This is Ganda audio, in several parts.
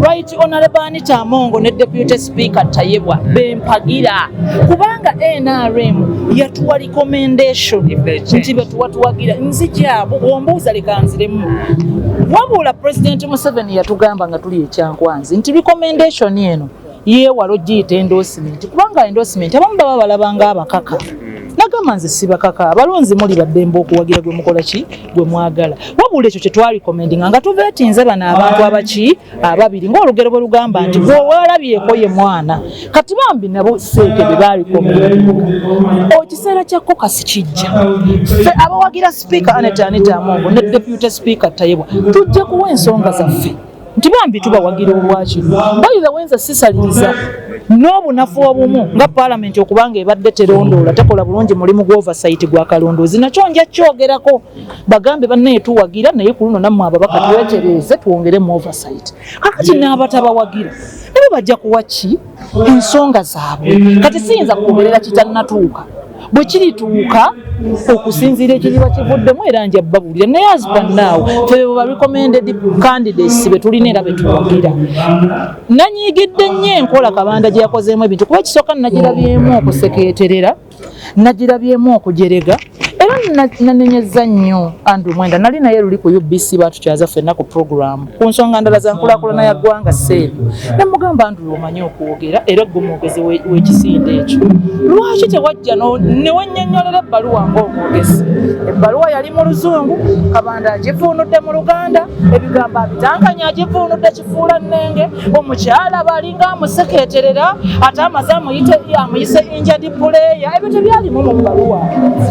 Right Honorable Anita Amongo ne Deputy Speaker Tayebwa bempagira kubanga NRM yatuwa recommendation nti betuwatuwagira nzija ombuuza lekanziremu wabula President Museveni yatugamba nga tuli ekyankwanzi nti recommendation eno yeewala ogiyita endorsement kubanga endorsement abamu baba balabanga abakaka nagamba nze sibakaka abalonzi muli baddembe okuwagira gwe mukola ki gwe mwagala wabula ekyo kyetwali komendinga nga tuvetinze bano abantu abaki ababiri ngaolugero bwe lugamba nti gwewalabyeko ye mwana kati bambi nabo seeke bye baali komendinga ekiseera kya kokasi kijja fe abawagira sipiika aneta aneta amongo ne depute sipiika tayebwa tujja kuwa ensonga zaffe nti bambi tubawagira obwaki bayiza wenza sisaliriza n'obunafu obumu nga paalamenti okuba nga ebadde terondoola tekola bulungi mulimu gwovasaiti gwa kalondoozi nakyo nja kyogerako bagambe bannaye tuwagira naye ku luno nammwe ababaka twetereeze twongere mu ovasaiti kakati n'abatabawagira nabo bajja kuwa ki ensonga zaabwe kati siyinza kugoberera kitanatuuka bwe kirituuka okusinziira ekiriba kivuddemu era nja babuulira naye azipanaawo febebo barecommended candidates be tulina era betwogera nanyiigidde nnyo enkola kabanda gye yakozeemu ebintu kuba ekisooka nagirabyemu okusekeeterera nagirabyemu okujerega era nanenyezza nnyo andrew mwenda nali naye luli ku ubc batukyaza fenna ku programu ku nsonga ndala za nkulakulana ya ggwanga seeri ne mugamba nti omanyi okwogera era gwe mwogezi w'ekisinde ekyo lwaki tewajja ne wennyonnyolera ebbaluwa ng'omwogezi ebbaluwa yali mu luzungu kabanda agivuunudde mu luganda ebigambo abitankanya agivuunudde kifuula nnenge omukyala baalinga amusekeeterera ate amaze amuyise enjadi puleeya ebyo tebyalimu mu bbaluwa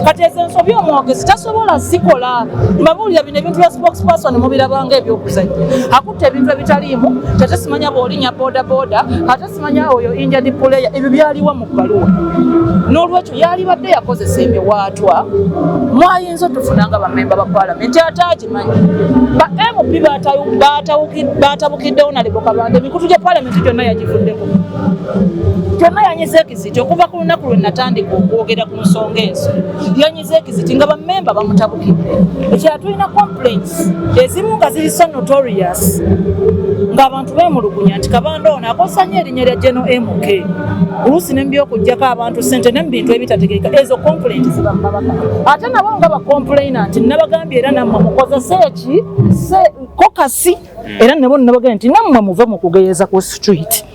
kati ezo ensobi omwogezi tasobola zikola mbabuulira bino ebintu bya spokesperson mubirabanga ebyokuzanya akutta ebintu ebitaliimu ate simanya bwolinya bodaboda ate simanya oyo enjadi puleeya ebyo byaliwa mu bbaluwa n'olwekyo yalibadde yakozesa emiwaatwa mwayinza otufuna nga bamemba ba palamenti ate agimanyi ba mp batabukiddewo nalibokabanda emikutu gya palamenti gyonna yagivuddeko kyonna yanyiza ekiziti okuva ku lunaku lwe natandika okwogera ku nsonga ezo yanyiza ekiziti nga bamemba bamutabukidde ekira tulina complaints ezimu nga ziri so notorious ng'abantu bemulugunya nti kabanda ono akosanya erinnya lya geno mk oluusi nembyokujjako abantu sente ne mubintu ebitategeeka ezo complaint ziba mumabaka ate nabo nga bacomplaina nti nabagambye era nammwe mukozese eki kokasi mm. era nabo nabagambye nti nammwe muve mu kugeyeza ku street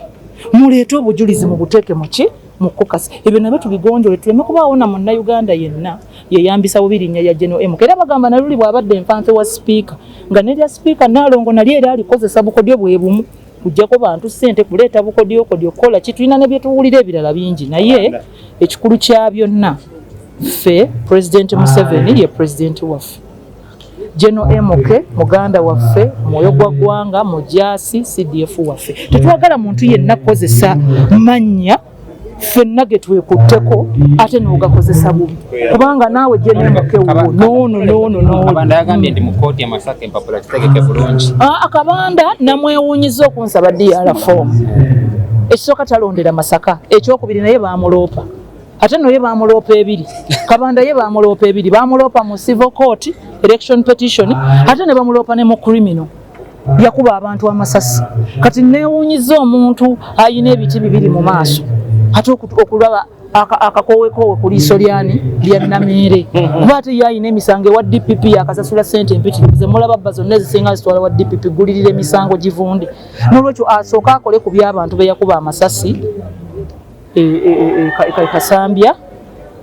muleete obujulizi mu buteeke muki mu kokasi ebyo nabyo tubigonjole tuleme kubaawo na munnayuganda yenna yeyambisa bubi linnya ya geno emu era bagamba naluli bw'abadde enfanfe wa sipiika nga nerya sipiika naalongo nalyo era alikozesa bukodyo bwe bumu kujjako bantu ssente kuleeta bukodyokodyo okukola ki tulina ne bye tuwulira ebirala bingi naye ekikulu kya byonna ffe pulezidenti museveni ye pulezidenti waffe General MK muganda waffe mwoyo gwa gwanga mujasi CDF waffe tetwagala muntu yenna kozesa manya fenna getwekutteko ate nogakozesa bubi kubanga naawe jenemukewo nono nono nonoakabanda ah, namwewunyiza okunsaba dr fomu ekisooka talondera masaka ekyokubiri naye bamuloopa ate noye bamuloopa ebiri kabanda ye bamuloopa ebiri bamuloopa mu civil court election petition ate ne bamuloopa ne mu criminal yakuba abantu amasasi kati newunyiza omuntu ayina ebiti bibiri mu maaso ate okulaba akakowekoowe ku liiso lyani lya nameere kuba ate ye ayina emisango ewa dpp yakasasula sente empitirivu zemulaba bba zonna ezisinga zitwala wa dpp gulirira emisango givunde nolwekyo asooke akole ku byabantu beyakuba amasasi e, e, e, e kasambya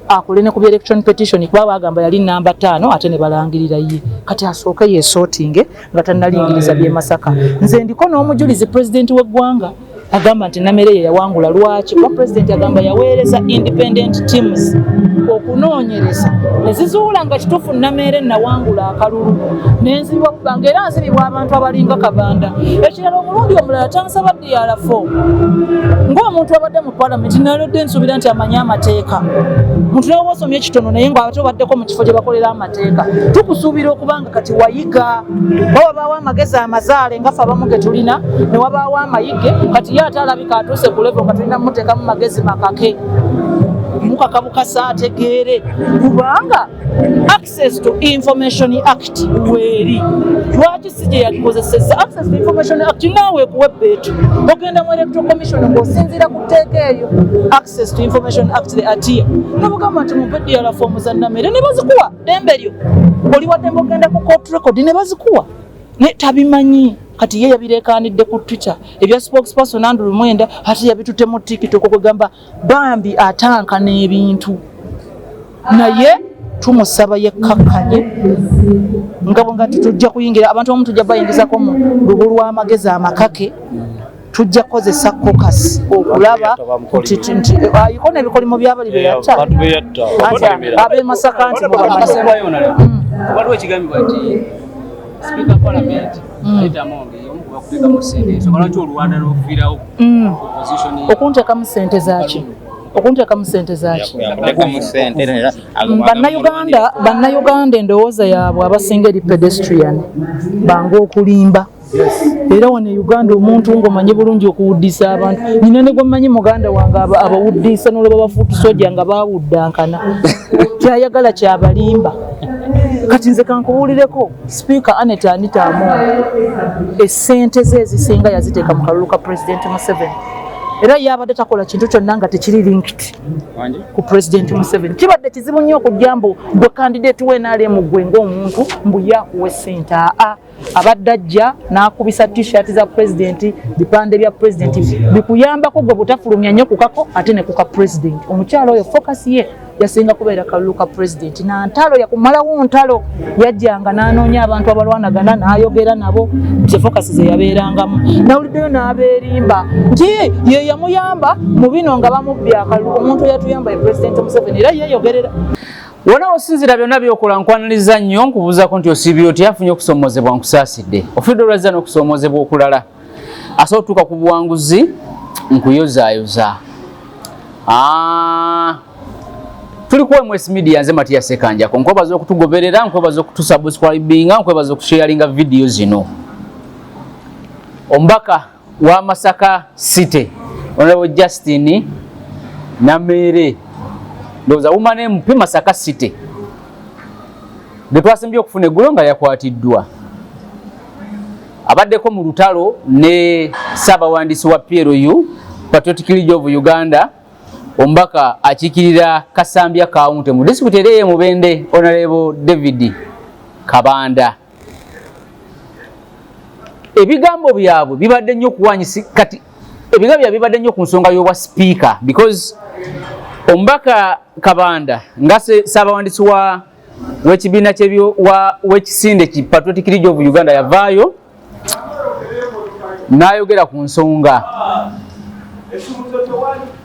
akole ne ku bya election petition kuba bagamba yali namba tano ate ne balangirira ye kati asooke yesotinge nga tannalingiriza bye masaka nze ndiko n'omujulizi president w'eggwanga agamba nti namere ye yawangula lwaki kuba president agamba yaweereza independent teams okunoonyereza ne zizuula nga kituufu namere nawangula akalulu nenzibwa kubanga era nzibibwa abantu abalinga kabanda ekirala omulundi omulala tansaba yarafo ng'omuntu abadde mu palamenti nalodde nsuubira nti amanyi amateeka muntu nawe wasomye ekitono naye nga ate obaddeko mu kifo gye bakolera amateeka tukusuubira okuba nga kati wayiga ba wabaawo amagezi amazaale nga fe abamu ge tulina ne wabaawo amayige kati ye ate alabika atuuse ku levo nga tulina muteekamu magezi makake mukaka bukasa ategeere kubanga access to information act weeri lwaki si gye yagikozesezza access to information act naawe kuwa ebbeetu ogenda mu electoral commission ng'osinziira ku tteeka eyo access to information act the atia nobugamba nti mumpe diala foomu za namere ne bazikuwa dembe lyo oli waddembe ogenda ku court record ne bazikuwa naye tabimanyi kati ye yabirekanidde ku twitter ebya spokesperson andrew mwenda ati yabitute mu tiktok kwegamba bambi atanka n'ebintu naye tumusaba yekkakkanye nga bwenga titujja kuyingira abantu abamu tujja bayingizako mu lubu lw'amagezi amakake tujja kukozesa kokasi okulaba nti ayiko ah, nebikolimo byabali beyatta abemasaka nti hmm. waliwo ekigambibwa nti sipiika palamenti mm. okuntekamu sente zaki okuntekamu sente zaki bannayuganda bannayuganda endowooza yaabwe abasinga eri pedestrian bange okulimba era wano e uganda omuntu ngaomanyi bulungi okuwuddisa abantu nyina ne gwemanyi muganda wange abawuddisa nolaba bafuutu soja nga bawuddankana kyayagala kyabalimba kati nze kankubuulireko Sipiika Annet Anita Among essente ze ezisinga yaziteeka mu kalulu ka Pulezidenti Museveni era yabadde takola kintu kyonna nga tekiri linked ku Pulezidenti Museveni. Kibadde kizibu nnyo okujja mbu gwe kandideeti we NRM gwe ng'omuntu mbu yakuwa essente aa abadde ajja n'akubisa t-shirt za Pulezidenti, bipande bya Pulezidenti bikuyambako gwe butafulumya nnyo kukako ate ne kuka Pulezidenti. Omukyala oyo focus ye yasinga kubeera kalulu ka pulezidenti na ntalo yakumalawo ntalo yajjanga n'anoonya abantu abalwanagana n'ayogera nabo zefokasi ze yabeerangamu nawuliddeyo n'abeerimba nti ye yamuyamba mu bino nga bamubbye akalulu omuntu eyatuyamba ye pulezidenti museveni era yeeyogerera wona osinzira byonna byokola nkwaniriza nnyo nkubuuzako nti osiibye oti afunye okusoomoozebwa nkusaasidde ofudde olwazza n'okusoomoozebwa okulala asobola okutuuka ku buwanguzi nkuyozaayoza ah, tuli kuwa mwesi media nze matiya sekanjako nkwebaza okutugoberera nkwebaza okutusubscribinga nkwebaza okusharinga vidiyo zino omubaka wa masaka city onalabo justin nameere ndowooza wumane mupi masaka city getwasimbye okufuna eggulo nga yakwatiddwa Abaddeko mu lutalo ne ssaabawandiisi wa PLU Patriotic League of Uganda omubaka akiikirira Kasambya Kawunte mu disitulikiti era eye Mubende Onalebo David Kabanda. Ebigambo byabwe bibadde nnyo okuwanyisi kati ebigambo byabwe bibadde nnyo ku nsonga y'obwa sipiika because omubaka Kabanda nga ssaabawandiisi wa w'ekibiina w'ekisinde ki patriotic league of uganda yavaayo n'ayogera ku nsonga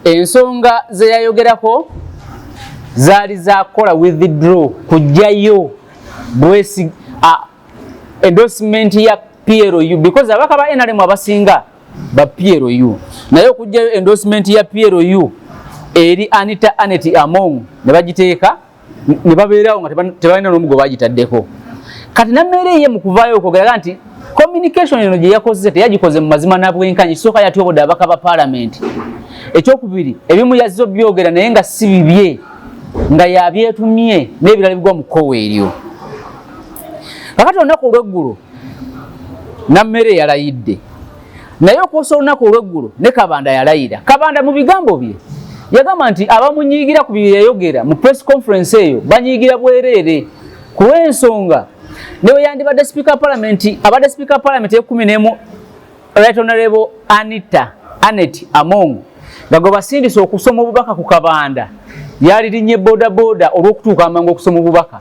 ensonga ze yayogerako zaali zakukola withdraw kujjayo bwesi endorsement ya plu because abaka ba nrm abasinga ba plu naye okujjayo endorsement ya plu eri anita anet among ne bagiteeka ne babeerawo nga tebalina n'omu gwe bagitaddeko kati nammeera eye mu kuvaayo okwogeraga nti communication eno gye yakozze teyagikoze mu mazima na bwenkanya ekisooka yatyoboda abaka ba paalamenti ekyokubiri ebimu yazze obyogera naye nga si bibye nga yabyetumye n'ebirala bigwa mu kkowa eryo kakati olunaku olweggulo nammere yalayidde naye okwosa olunaku olweggulo ne kabanda yalayira kabanda mu bigambo bye yagamba nti abamunyiigira ku byeyayogera mu press conference eyo banyiigira bwereere ku lw'ensonga newe yandibadde sipiika wa palamenti abadde sipiika wa palamenti ekumi nemu right honorable anita anet among nga gwe basindise okusoma obubaka ku kabanda yalirinye bodaboda olw'okutuuka amangu okusoma obubaka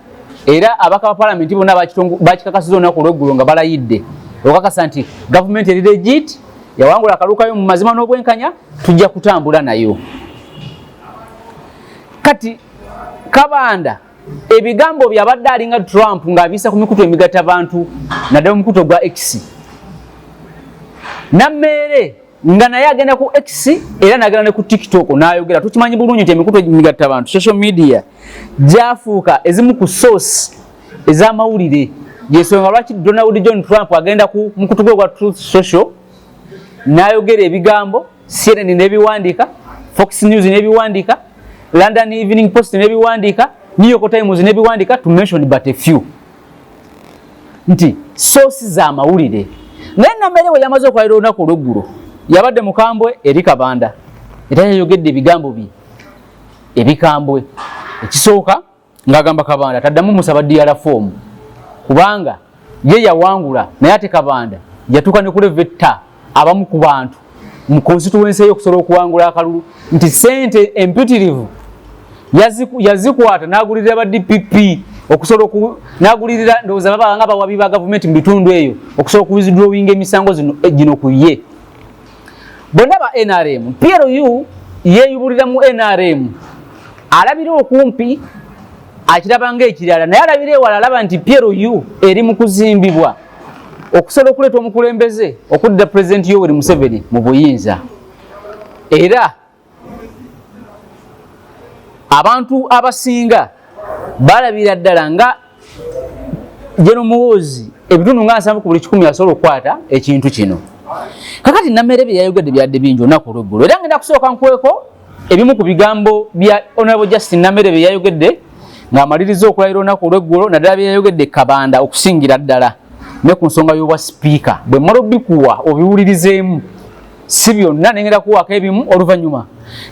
era abaka ba palamenti bonna bakikakasiza olunaku olweggulo nga balayidde okakasa nti gavumenti eri legit yawangula akalukayo mu mazima n'obwenkanya tujja kutambula nayo kati kabanda ebigambo byabadde alinga trump ng'abiisa ku mikutu emigata bantu naddala omukuto gwa x nammeere nga naye agenda ku X era nagenda ne ku TikTok nayogera. Tukimanyi bulungi nti emikutu emigatta abantu social media gyafuuka ezimu ku source ez'amawulire. Yesonga lwaki Donald John Trump agenda ku mukutu gwe gwa Truth Social nayogera ebigambo CNN n'ebiwandiika, Fox News n'ebiwandiika, London Evening Post n'ebiwandiika, New York Times n'ebiwandiika to mention but a few. nti soosi za mawulire naye namere we yamaze okulayira olunaku olweggulo yabadde mukambwe eri kabanda era yayogedde ebigambo bye ebikambwe ekisooka ng'agamba kabanda taddamu musaba diyala foomu kubanga ye yawangula naye ate kabanda yatuuka ne kuleva etta abamu ku bantu mu konsituwensi eyo okusobola okuwangula akalulu nti sente empitirivu yazikwata nagulirira ba dpp okusobola oku nagulirira ndowooza baba nga bawabi ba gavumenti mu bitundu eyo okusobola okuwizidrowinga emisango eh, gino ku ye bonna ba nrm plu yeyubulira mu nrm alabira okumpi akiraba nga ekirala naye alabira ewala alaba nti plu eri mu kuzimbibwa okusala okuleeta omukulembeze okudda pulezidenti yoweri museveni mu buyinza era abantu abasinga balabira ddala nga jeno muwoozi ebitundu nga nsanvu ku buli kikumi asobola okukwata ekintu kino kakati nameere bye yayogedde byadde bingi olunaku olweggulo era ngenda kusooka nkweko ebimu ku bigambo bya honorable justin namere bye yayogedde ng'amaliriza okulayira olunaku olw'eggulo naddala bye yayogedde kabanda okusingira ddala ne ku nsonga y'obwa sipiika bwe mmala obikuwa obiwulirizeemu si byonna ne ngenda kuwaako ebimu oluvannyuma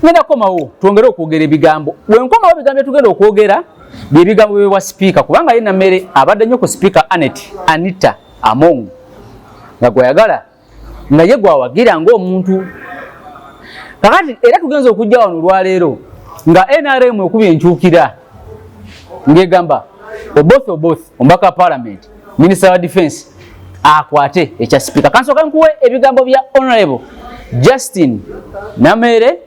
ngenda kukomawo twongere okwogera ebigambo bwe nkomawo ebigambo bye tugenda okwogera bye bigambo byebwa sipiika kubanga ye namere abadde nnyo ku sipiika anet anita among nga gweyagala nga ye gwawagira ngaomuntu kakati era tugenza okujja wano olwaleero nga nrm ekuba enkyukira ngaegamba oboth oboth omubaka wa palamenti minisita wa defense akwate ekya sipiika kansooka nkuwe ebigambo bya honorable justin nameere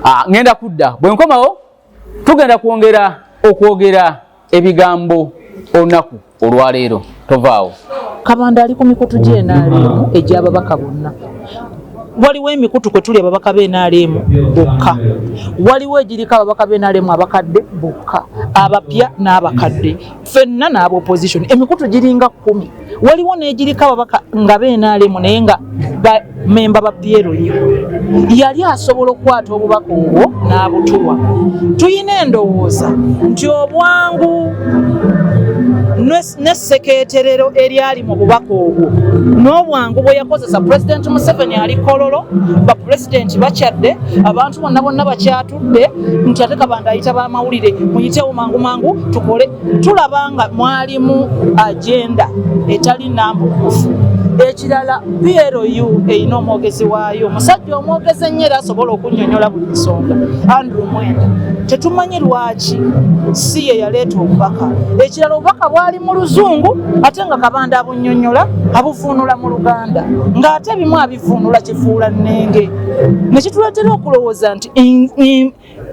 ah, ngenda kudda bwenkomawo tugenda kwongera okwogera ebigambo olunaku olwaleero tovaawo kabanda ali ku mikutu gyenaalemu egyababaka bonna waliwo emikutu kwe tuli ababaka b'enaaleemu bokka waliwo egiriko ababaka b'enaaleemu abakadde bokka abapya n'abakadde fenna n'aba opposition emikutu giringa kkumi waliwo n'egiriko ababaka nga benaalemu naye nga bamemba ba pyero ye yali asobola okukwata obubaka obwo n'abutuwa tulina endowooza nti obwangu n'essekeeterero eryali mu bubaka obwo n'obwangu bwe yakozesa pulezidenti museveni ali kololo bapulezidenti bakyadde abantu bonna bonna bakyatu de nti ate kabanda ayita bamawulire muyitewo mangu mangu tukole tulaba nga mwalimu agenda etali nambukufu ekirala plu erina omwogezi waayo omusajja omwogezi ennyo era asobola okunyonyola buli nsonga andrew mwenda tetumanyi lwaki si ye yaleeta obubaka ekirala obubaka bwali mu luzungu ate nga kabanda abunyonyola abuvuunula mu luganda ng'ate bimu vunula kifuula nnenge ne kituleetera okulowooza nti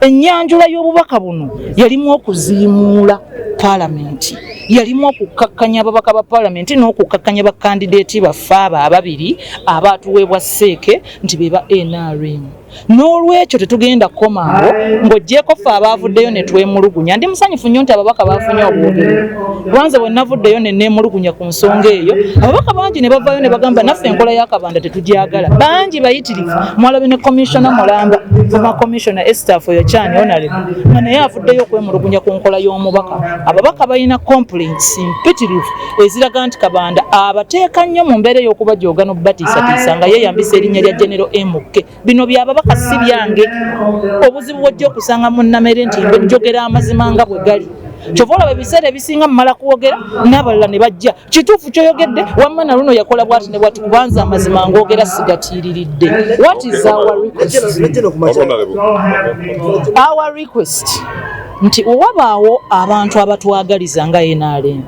ennyanjula y'obubaka buno yalimu okuziimuula paalamenti yalimu okukkakkanya ababaka ba paalamenti n'okukkakkanya bakandideeti baffe abo ababiri abaatuweebwa seeke nti be ba nrm n'olwekyo tetugenda kukomango ng'ogyeko ffe abaavuddeyo ne twemulugunya ndi musanyufu nnyo nti ababaka baafunye obwogero kubanze bwe navuddeyo ne neemulugunya ku nsonga eyo ababaka bangi ne bavaayo ne bagamba naffe enkola y'akabanda tetugyagala bangi bayitirivu mwalabi ne komishona mulamba foma komishona estaf oyo kyani onale nga naye avuddeyo okwemulugunya ku nkola y'omubaka ababaka balina complaints mpitirivu eziraga nti kabanda abateeka nnyo mu mbeera ey'okubajooga n'okubatiisatiisa nga yeeyambisa erinnya lya genero mk bino byababaka si byange obuzibu bwojja okusanga mu nnamere nti njogera amazima nga bwe gali kyova olaba ebiseera ebisinga mumala kwogera n'abalala ne bajja kituufu kyoyogedde wamma na luno yakola bwati ne bwati kubanza amazima ng'ogera sigatiiriridde what is our request our request nti owabaawo abantu abatwagaliza nga nrm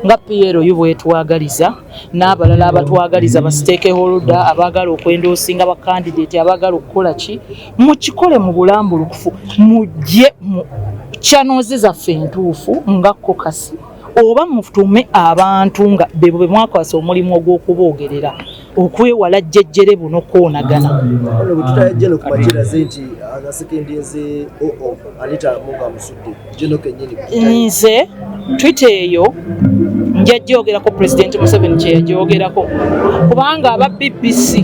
nga PLU bwetwagaliza n'abalala abatwagaliza ba stakeholder abaagala okwendoosinga ba candidate abaagala okukola ki mukikole mu bulambulukufu mujje mu channels zaffe entuufu nga kokasi oba mutume abantu nga bebo bemwakwasa omulimu ogw'okuboogerera okwewala jjejjere buno koonagana ono bwe tutaya jeno ku makiraze nti asekendinze oo oh, oh, anita munga amusudde jeno kenyini nze twitter eyo njajjogerako president museveni kyeyajogerako kubanga aba bbc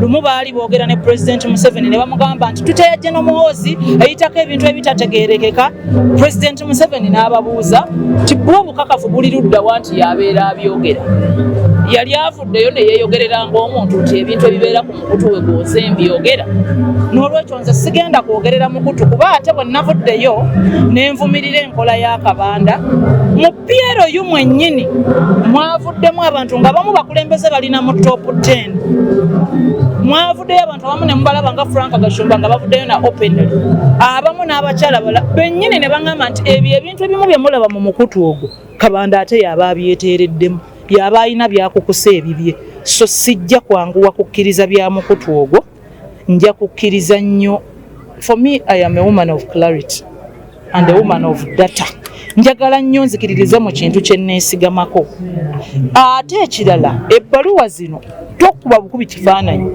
lumu baali boogera ne president museveni ne bamugamba nti tutaya jeno muhoozi eyitako ebintu ebitategerekeka president museveni n'ababuuza ti bwo obukakafu buli luddawa nti yabeera abyogera yali av ddeyo ne yeeyogerera ng'omuntu nti ebintu ebibeera ku mukutu we gwoze mbyogera n'olwekyo nze sigenda kwogerera mukutu kuba ate bwe navuddeyo ne nvumirira enkola y'akabanda mu piero yu mwennyini mwavuddemu abantu nga bamu bakulembeze balina mu top 10 mwavuddeyo abantu abamu ne mubalaba nga frank gashumba nga bavuddeyo na openly abamu n'abakyala bala bennyini ne baŋŋamba nti ebyo ebintu ebimu bye mulaba mu mukutu ogwo kabanda ate yaaba abyeteereddemu Byaba alina byakukusa ebibye, so sijja kwanguwa kukkiriza bya mukutu ogwo. Nja kukkiriza nnyo. For me, I am a woman of clarity and a woman of data. Njagala nnyo nzikiririza mu kintu kye nneesigamako. Ate ekirala, ebbaluwa zino tokuba bukubi kifaananyi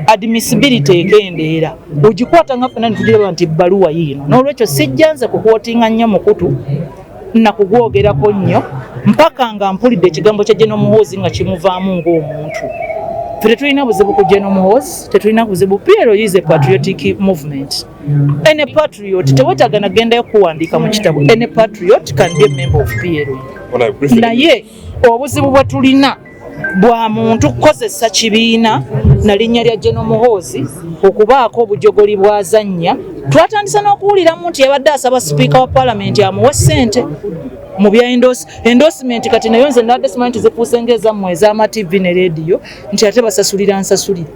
admissibility ekendeera ogikwata nga fena netugiraba nti ebbaluwa yiino n'olwekyo sijjanze kukwotinga nnyo mukutu nakugwogerako nnyo mpaka nga mpulidde ekigambo kya jeno muhoozi nga kimuvaamu ng'omuntu fe tetulina buzibu ku jeno muhoozi tetulina buzibu piero is a patriotic movement any patriot tewetaaga nagendayo kuwandiika mu kitabo any patriot can be a member of piero naye obuzibu bwe tulina bwa muntu kukozesa kibiina na linnya lya General Muhoozi okubaako obujogoli bwazannya twatandise n'okuwuliramu nti yabadde asaba sipiika wa palamenti amuwe ssente mu bya endorsement kati nayo nze nabadde simanyi nti zifuuse ngaezammwe ez'amativi ne leediyo nti ate basasulira nsasulire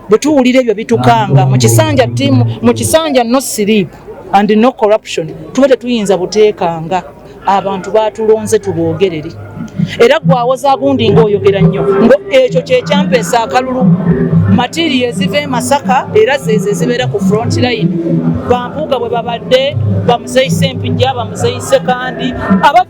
bwe tuwulira ebyo bitukanga mu kisanja tiimu mu kisanja no sleep and no corruption tuba tetuyinza buteekanga abantu baatulonze tuboogerere era gwawoza gundi ngaoyogera nnyo ngo ekyo kyekyampeesa akalulu matiriyo eziva e masaka era zeezo ezibeera ku front line bampuuga bwe babadde bamuzeyise empijja bamuzeyise kandi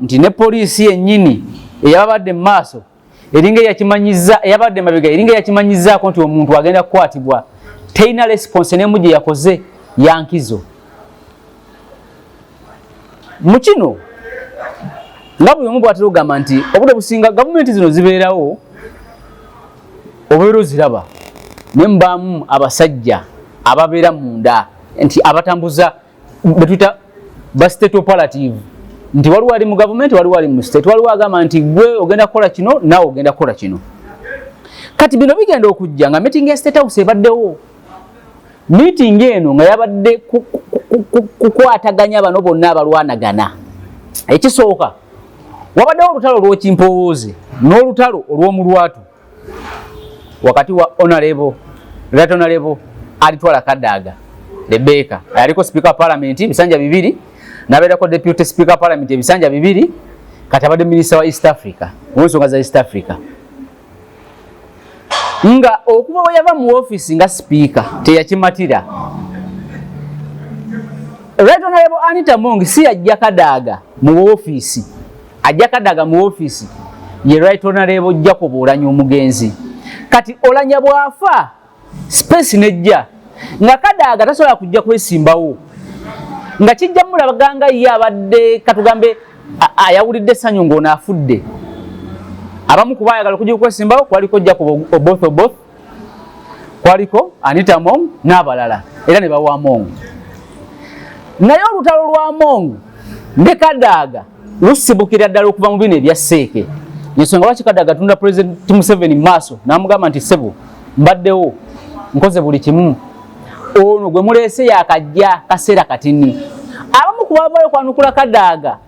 nti ne poliisi yennyini eyababadde mu maaso eringa eyakimanyiza eyabadde mabega eringa eyakimanyizaako nti omuntu agenda kukwatibwa terina resiponse nemu gye yakoze yankizo mu kino nga buli omu bwatera okugamba nti obudde businga gavumenti zino zibeerawo obeera oziraba naye mubaamu abasajja ababeera munda nti abatambuza betuyita ba state operative nti waliwo ali mu gavumenti waliwo ali mu state waliwo agamba nti gwe ogenda kukola kino naawe ogenda kukola kino kati bino bigenda okujja nga meeting ya state house ebaddewo meeting eno nga yabadde kukwataganya bano bonna abalwanagana ekisooka wabaddewo olutalo olw'okimpowooze n'olutalo olw'omulwatu wakati wa honorable right honorable alitwala kadaga Rebecca aliko speaker parliament bisanja bibiri naberako deputy speaker parliament bisanja bibiri kati abadde minister wa East Africa wonsonga za East Africa nga okuba bwe yava mu office nga speaker teyakimatira right honorable Anita Mongi si yajja kadaaga mu office ajja kadaga mu office ye right honorable jacob olanya omugenzi kati olanya bwafa space nejja nga kadaga tasobola kujja kwesimbawo nga kijja mulabaga nga ye abadde katugambe ayawulidde sanyu ng'ono afudde abamu kuba ayagala okujja okwesimbawo kwaliko jacob oboth oboth kwaliko anita mong n'abalala era ne bawa mong naye olutalo lwa mong ne kadaaga lusibukira ddala okuva mu bino ebya seeke yensonga lwaki kadaaga tunda pulezidenti museveni mu maaso n'amugamba nti sebo mbaddewo nkoze buli kimu ono gwe muleese yakajja kaseera katini abamu ku bavayo kwanukula kadaaga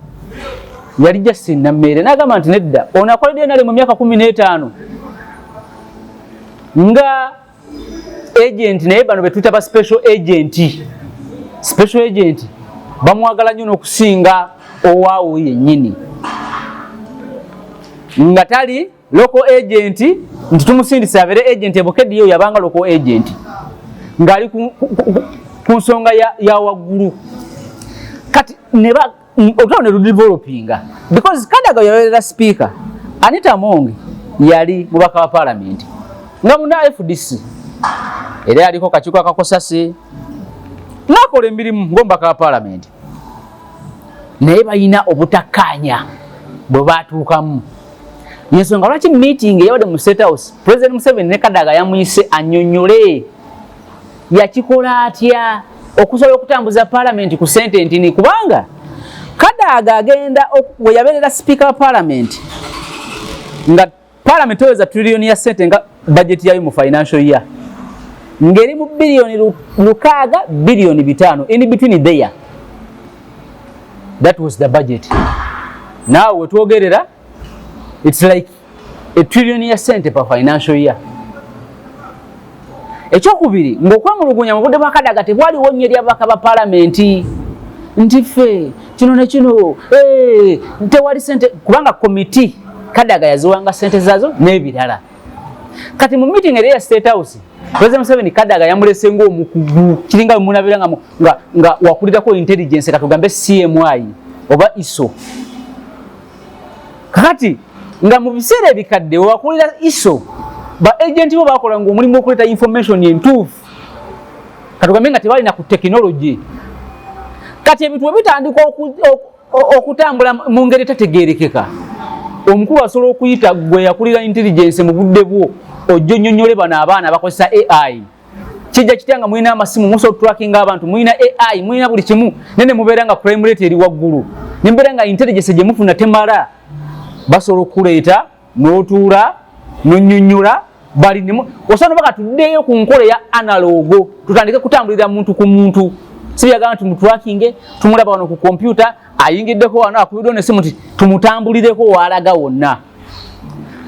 yali jasinna mmeere n'agamba nti nedda ono akoledde nale mu myaka kumi n'etaano nga agent naye bano betuyita ba special agent special agent bamwagala nnyo n'okusinga owaawo yennyini nga tali local agent nti tumusindise abeere agent ebukediyo yabanga local agent ng'ali ku nsonga ya waggulu kati ne olutalo ne ludevelopinga because kadaga yabeerera sipiika anita mongi yali mubaka wa palamenti nga muna fdc era yaliko kakiiko akakosasi nakola emirimu ngomubaka wa palamenti naye balina obutakkaanya bwe baatuukamu yensonga lwaki meeting eyabadde mu state house president museveni ne kadaga yamuyise anyonyole yakikola atya okusobola okutambuza palamenti ku sente ntini kubanga kadaaga agenda we yabeerera sipiika wa palamenti nga palamenti oweza triliyoni ya sente nga bajeti yayo mu financial year ngeri mu biliyoni lukaaga biliyoni bitaano in between there that was the budget naawe wetwogerera its like etrilioni ya sente pa financial year ekyokubiri ngaokwemulugunya mu budde bwa kadaga tebwaliwo nnyo eri ababaka ba palamenti nti ffe kino ne kino eh, tewali sente kubanga komiti kadaga yaziwanga sente zazo n'ebirala kati mu meeting eri ya state house president museveni kadaga yamulese ngaomukugu kiringa wemunabira nga, nga, nga wakulirako intelligence katugambe cmi oba iso kakati nga mu biseera ebikadde wewakolera iso ba agenti bo bakola nga omulimu okuleeta information entuufu katugambe nga tebalina ku tekinologi kati ebintu webitandika okutambula mu ngeri etategerekeka omukulu asobola okuyita gwe yakulira intelligence mu budde bwo ojjo nyonyole bano abaana bakozesa ai kijja kitya nga mulina amasimu musobola otutrakinga abantu mulina ai mulina buli kimu naye ne mubeera nga crime rate eri waggulu ne mubeera nga intelligence gye mufuna temala basobola okukuleeta n'otuula n'onnyonnyola bali nemu osobola nobaka tuddeeyo ku nkola eya analoogo tutandike kutambulira muntu ku muntu sibyagamba nti mutwakinge tumulaba wano ku kompyuta ayingiddeko wano akubiddeo nesimu nti tumutambulireko waalaga wonna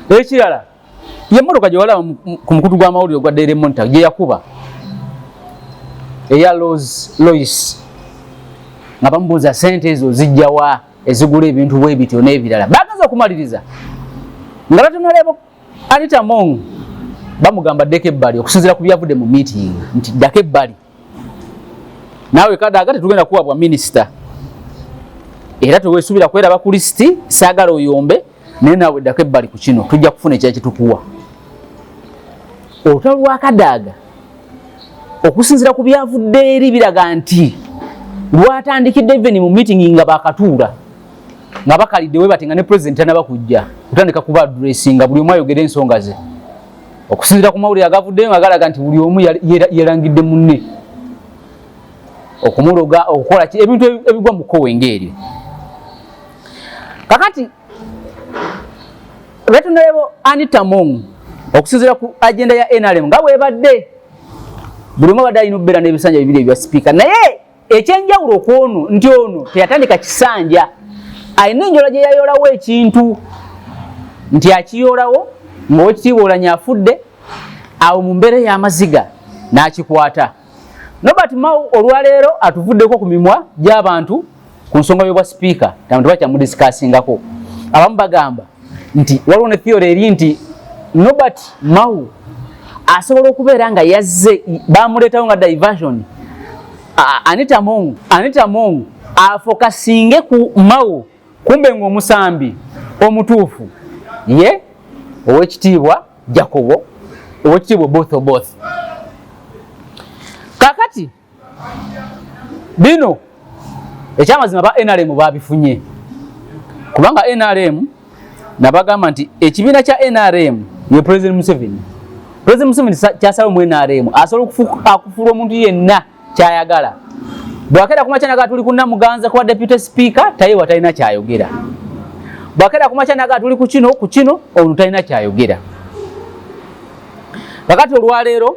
ekirala ye mmotoka gye walaba ku mukutu gw'amawulire ogwa daily monitor gye yakuba eya los lois nga bamubuuza sente ezo zijjawa ezigula ebintu bwe bityo n'ebirala bagenza okumaliriza nga batunaleebo anita mong bamugamba ddeko ebbali okusinzira ku byavudde mu meeting nti ddako ebbali naawe kadaaga tetugenda kuwa bwa minisita era tewesuubira kweraba ku lisiti saagala oyombe naye naawe ddako ebbali ku kino tujja kufuna ekya kitukuwa olutalo lwa kadaaga okusinzira ku byavudde eri biraga nti lwatandikidde even mu meeting nga bakatuula nga bakalidde webati nga ne president anaba kujja kutandika kuba adressinga buli omu ayogere ensonga ze okusinzira ku mawulire agavuddeyo nga galaga nti buli omu yelangidde munne okumuloga okukola ki ebintu ebigwa mu kkowe ngaeryo kakati retunalebo anitamong okusinzira ku agenda ya nrm nga bwebadde buli omu abadde alina okubeera n'ebisanja bibiri ebya sipiika naye ekyenjawulo kwono nti ono teyatandika kisanja alina enjola gye yayolawo ekintu nti akiyolawo ngaowekitiibwa olanya afudde awo mu mbeera ey'amaziga n'akikwata nobert mau olwaleero atuvuddeko ku mimwa gy'abantu ku nsonga y'obwa sipiika tabantu bakyamudisikaasingako abamu bagamba nti waliwo ne theory eri nti Norbert Mao asobola okubeera nga yazze bamuleetawo nga diversion Anita Mong Anita Mong afokasinge ku Mao kumbe ng'omusambi omutuufu ye owekitiibwa Jacobo owekitiibwa both both kakati bino ekyamazima ba nrm babifunye kubanga nrm nabagamba nti ekibiina kya nrm ye president museveni president museveni kyasalawo mu nrm asobola akufuula omuntu yenna kyayagala bwakera kumakyanaga tuli kunamuganza kuba deputy speaker taye watalina kyayogera bwakera kumakyanaga tuli kukino kukino omuntu talina kyayogera kakati olwaleero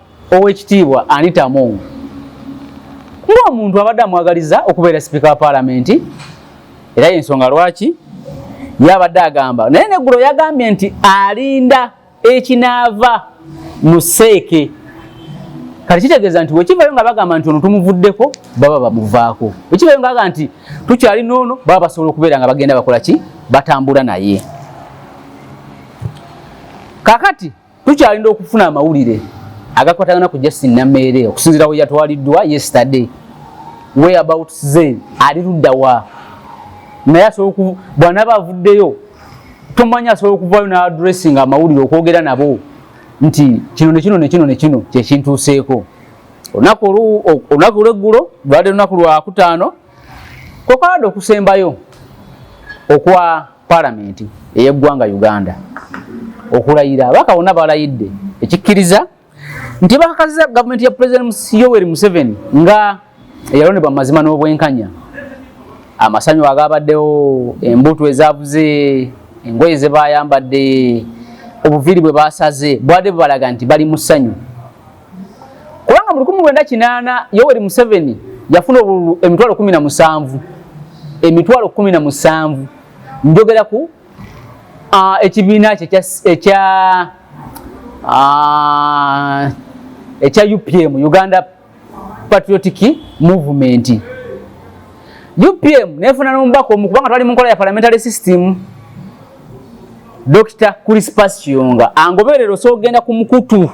Owekitiibwa Anita Among ng'omuntu abadde amwagaliza okubeera sipiika wa paalamenti era y'ensonga lwaki yabadde agamba naye neggulo yagambye nti alinda ekinaava mu seeke kati kitegeeza nti wekivayo nga bagamba nti ono tumuvuddeko baba bamuvaako wekivayo nga aga nti tukyali noono baba basobola okubeera nga bagenda bakola ki batambula naye kakati tukyalinda okufuna amawulire agakwatagana ku Justin Nameere okusinzira we yatwaliddwa yesterday way about ze ali ludda wa naye asobola bw'anaaba avuddeyo tomanyi asobola okuvaayo n'adressinga amawulire okwogera nabo nti kino ne kino ne kino ne kino kye kintuuseeko olunaku olunaku lw'eggulo lwali lunaku lwakutaano kwekwalada okusembayo okwa palamenti ey'eggwanga uganda okulayira abaka bonna balayidde ekikkiriza nti bakakasiza gavumenti ya pulezidenti yoweri museveni nga eyalondebwa mu mazima n'obwenkanya amasanyu agabaddewo embuutu ezavuze engoye ze bayambadde obuviiri bwe basaze bwade bubalaga nti bali mu ssanyu kubanga mu lukumi lwenda kinaana yoweri museveni yafuna obululu emitwalo kumi na musanvu emitwalo kumi na musanvu njogera ku ekibiina kye ekya ekya upm uganda patriotic movement upm nefuna nomubaka omu kubanga twali mu nkola ya parliamentary system Dr. Crispus Kiyonga angoberera osobola okugenda ku mukutu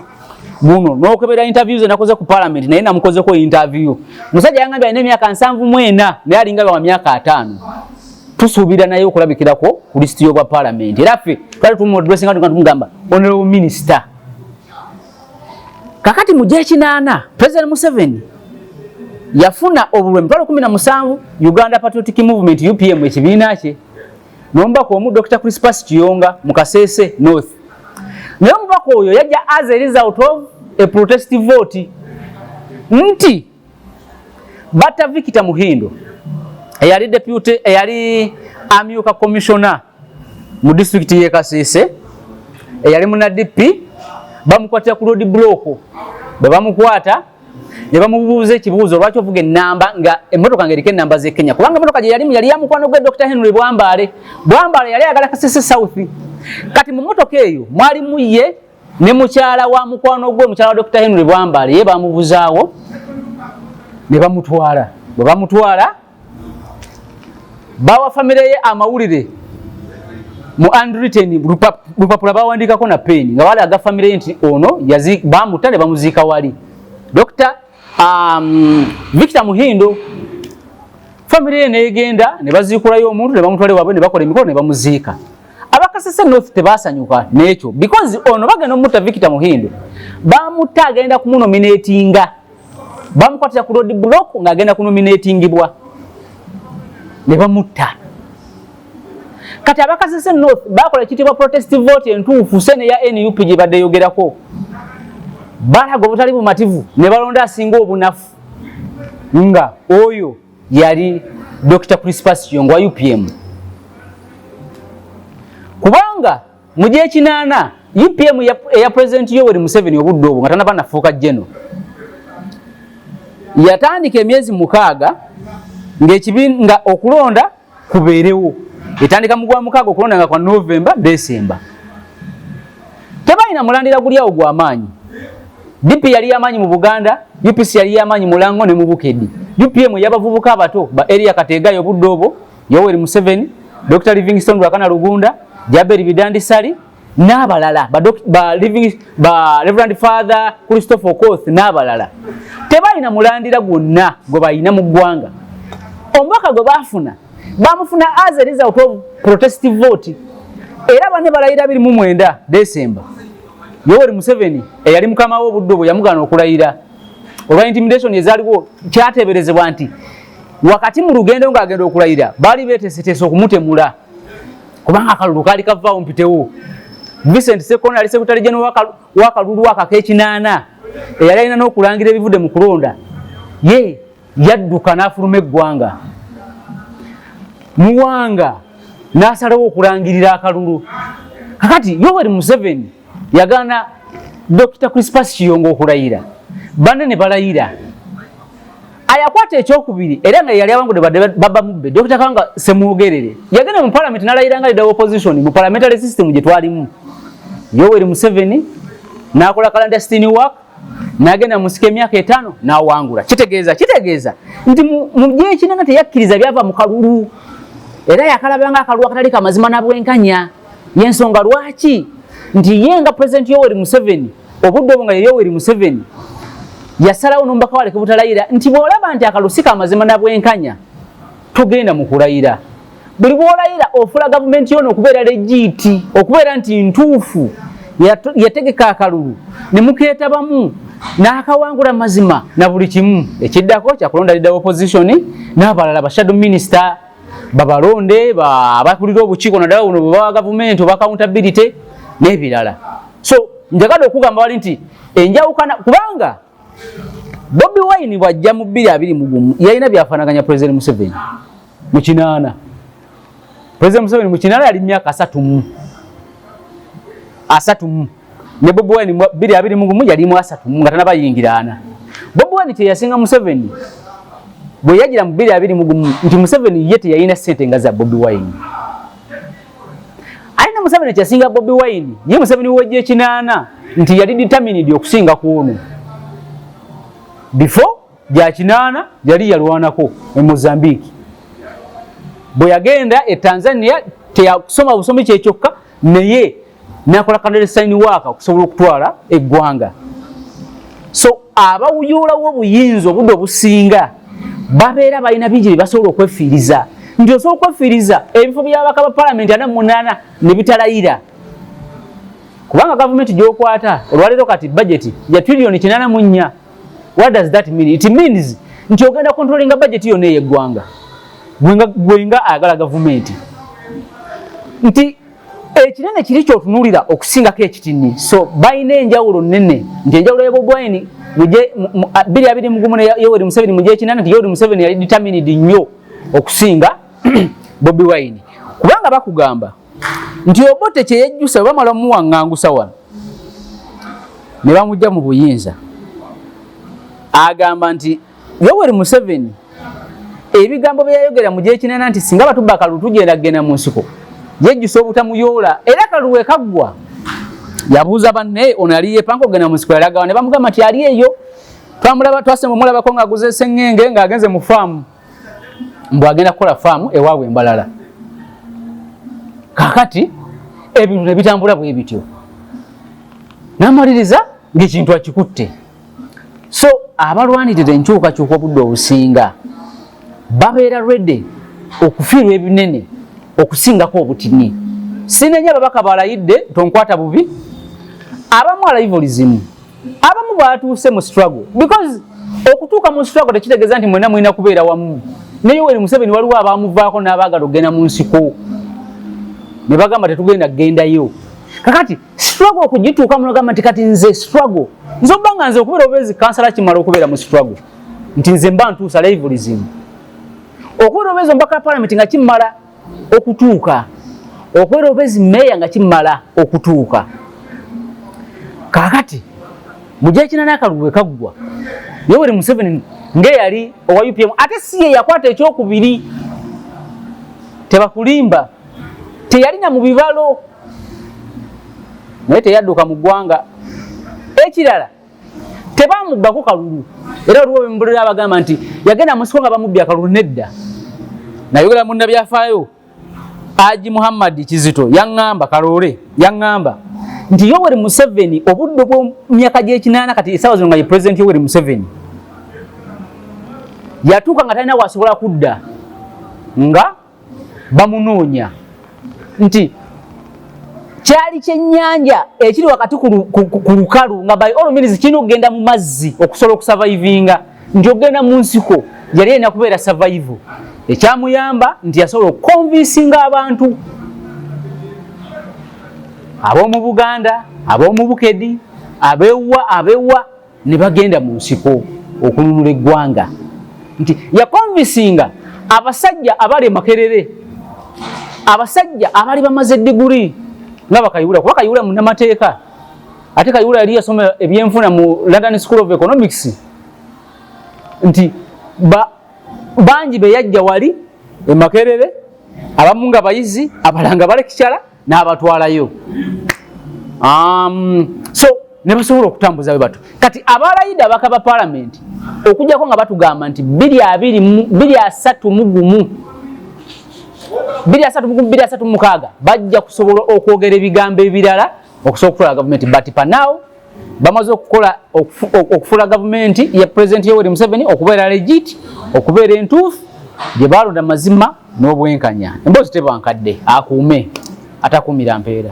guno n'okebera interview ze nakoze ku parliament naye namukozeko interview musajja yangambye alina emyaka nsanvu mu ena naye alinga wa myaka ataano tusuubira naye okulabikirako ku lisiti y'obwa parliament era ffe twali tumudressinga tuga tumugamba honorable minister kakati mu gyekinaana president museveni yafuna obulwe emitwalo kumi na musanvu uganda patriotic movement upm ekibiina kye nomubaka omu Dr. Crispus Kiyonga mu Kasese North. Naye omubaka oyo yajja as a result of a protest vote nti batta Victor Muhindo eyali deputy eyali amyuka commissioner mu district ye Kasese eyali muna DP bamukwatira ku road block bwe bamukwata ne bamubuuza ekibuuzo lwaki ovuga ennamba nga emmotoka nga eriko ennamba z'e kenya kubanga emmotoka gye yalimu yali ya mukwano gwe dr henry bwambaale bwambaale yali ayagala kasese south kati mu mmotoka eyo mwalimu ye ne mukyala wa mukwano gwe mukyala wa dr henry bwambaale ye bamubuzaawo ne bamutwala bwe bamutwala bawa famire ye amawulire mu andwritten lupapula bawandiikako na peeni nga balaga famire ye nti ono bamutta ne bamuziika wali dokita um, victor muhindo famire ye negenda ne baziikulayo omuntu ne bamutwale wabwe ne bakola emikolo ne bamuziika abakasese north tebasanyuka nekyo because ono bagenda omutta victor muhindo bamutta agenda kumunominatinga bamukwatira ku road block ng'agenda kunominatingibwa ne bamutta kati abakasese north bakola ekitibwa protest vote entuufu sene ya nup gye badde yogerako balaga obutali bumativu ne balonda asinga obunafu nga oyo yali dr crispus yongo wa upm kubanga mu gyekinaana upm eya pulezidenti yoweri museveni obudde obwo nga tanaba nafuuka jeno yatandika emyezi mukaaga nga okulonda kubeerewo etandika mu gwamukaaga okulonda nga kwa novemba desemba tebalina mulandira guli awo gwamaanyi dp yali yamaanyi mu buganda upc yali yamaanyi mulango ne mubukedi upm eyabavubuka abato ba eria kateegayo obudde obwo Yoweri Museveni, Dr. Livingstone Rwakana Lugunda, Jaberi Bidandi Sali n'abalala ba, ba, ba Reverend Father Christopher Okoth n'abalala tebalina mulandira gwonna gwe balina mu ggwanga. Omubaka gwe baafuna bamufuna as a result of protest vote era bane balayira biri mu mwenda December. Yoweri Museveni eyali mukama w'obuddo bwe yamugaana okulayira olwa intimidation ezaaliwo kyateeberezebwa nti wakati mu lugendo ng'agenda okulayira baali beeteeseteese okumutemula kubanga akalulu kaali kavaawo mpitewo vincent sekona ali sekutale jeno wakalulu akako ekinaana eyali alina n'okulangira ebivudde mu kulonda ye yadduka n'afuluma eggwanga muwanga n'asalawo okulangirira akalulu kakati yoweri museveni yagaana Dokita Crispus Kiyongo okulayira banne ne balayira ayakwata ekyokubiri era nga yali abangude baba mubbe Dokita Kanga Semwogerere yagenda mu palamenti nalayira nga leader opposition mu parliamentary system gye twalimu Yoweri Museveni n'akola clandestine work nagenda musika emyaka etaano n'awangula kitegeeza kitegeeza nti mu gyekinanga teyakkiriza byava mu kalulu era yakalabanga akalulu akatali kamazima na bwenkanya yensonga lwaki nti ye nga president yoweri museveni obudde obwo nga yeyoweri museveni yasalawo nomubaka waleke butalayira nti bwolaba nti akalusika amazima nabwenkanya togenda mu kulayira buli bwolayira ofula gavumenti yona okubeera legiiti okubeera nti ntuufu yategeka akalulu ne mukeetabamu n'akawangula mazima na buli kimu ekiddako kyakulonda lidda opposition n'abalala bashado minisita babalonde abakulira obukiiko naddala buno bwebawa gavumenti oba accountability n'ebirala so njagala okugamba wali nti enjawukana kubanga bobi wine bwajja mu bbiri abiri mugumu yalina byafanaganya president museveni mukinaana president museveni mukinaana yali myaka asatu mu asatu mu ne Bob Wine biri abiri mu gumu yali mu asatu nga tanaba yingirana Bob Wine kye yasinga Museveni bwe yagira mu biri abiri mu gumu nti Museveni yete yayina sente nga za Bob Wine Aina Museveni kye singa Bob Wine ye Museveni wajje kinana nti yali determined okusinga kuono before gya kinaana yali yalwanako e mozambique bwe yagenda e tanzania teyakusoma busomi kyekyokka naye nakola kanderesaini waaka okusobola okutwala eggwanga so abawuyuulawo obuyinza obudde obusinga babeera balina bingi bye basobola okwefiiriza nti osobola okwefiiriza ebifo byabaka ba palamenti ana munaana ne bitalayira kubanga gavumenti gyokwata olwaleero kati bajeti ya triliyoni kinana mu nnya what does that mean it means nti ogenda kontrolinga bajeti yona eyeggwanga gwenga ayagala gavumenti nti ekinene kiri kyotunulira okusingako ekitini so balina enjawulo nene nti enjawulo yebobwaini biri abiri mugumu yoweri museveni mugyekinana nti yoweri museveni yali determined nnyo okusinga bobi wine kubanga bakugamba nti obote kyeyejjusa bwe bamala omuwaŋŋangusa wano ne bamujja mu buyinza agamba nti yoweri museveni ebigambo byeyayogera mu gyekinana nti singa batubba kalulu tugenda kugenda mu nsiko yejjusa obutamuyoola era kalulu ekaggwa yabuuza banne ono yali yepanka okugenda mu nsiko yalagawa ne bamugamba nti ali eyo twamulaba twasema omulabako ng'aguze eseŋŋenge ng'agenze mu faamu mbu agenda kukola faamu ewaabwe embalala kakati ebintu nebitambula bwe bityo namaliriza ngaekintu akikutte so abalwanirira enkyukakyuka obudde obusinga babeera rede okufiirwa ebinene okusingako obutini sinenya ababaka balayidde tonkwata bubi abamu alaivolizimu abamu baatuuse mu struggle because okutuuka mu struggle tekitegeeza nti mwena mulina kubeera wamu ne yoweri museveni waliwo abaamuvaako n'abaagala okugenda mu nsiko ne bagamba tetugenda kugendayo kakati struggle okugituuka munagamba nti kati nze struggle nze oba nga nze okubeera obeezi kansala kimala okubeera mu struggle nti nze mba ntuusa levulism okubeera obeezi omubaka wa palamenti nga kimala okutuuka okwera obezi meeya nga kimala okutuuka kakati mujakina nakalulu wekaggwa yoweri museveni ngeyali owa upm ate si ye yakwata ekyokubiri tebakulimba teyalina mu bibalo naye teyadduka mu ggwanga ekirala tebamubbako kalulu era oliwo bemubulira abagamba nti yagenda musiko nga bamubbi akalulu nedda nayogera munna byafaayo aji muhammadi kizito yaŋŋamba kaloole yaŋŋamba nti yoweri museveni obudde bwomyaka gyekinaana kati esaawa zino nga ye pulezidenti yoweri museveni yatuuka nga talina wasobola kudda nga bamunoonya nti kyali kyennyanja ekiri wakati ku lukalu nga by all means kirina okugenda mu mazzi okusobola okusavaivinga nti okugenda mu nsiko yali erina kubeera savaivu ekyamuyamba nti yasobola okukonvinsinga abantu ab'omu buganda ab'omu bukedi abewa abewa ne bagenda mu nsiko okununula eggwanga nti yakonvisinga abasajja abali emakerere abasajja abali bamaze diguri nga bakayibula kuba kayibula munamateeka ate kayibula yali yasoma ebyenfuna mu london school of economics nti ba, bangi beyajja wali emakerere abamu nga bayizi abalanga balekikyala n'abatwalayo um, so ne basobola okutambuza bwe batu kati abalayida abaka ba palamenti okujjako nga batugamba nti biri abiri biri asatu mu gumu biri asatu mugumu biri asatu mukaaga bajja kusobola okwogera ebigambo ebirala okusobola okutwala gavumenti but panawo bamaze okukola okufuula gavumenti ya pulezidenti yoweri museveni okubeera legit okubeera entuufu gye baalonda mazima n'obwenkanya emboozi tebankadde akuume atakuumira mpeera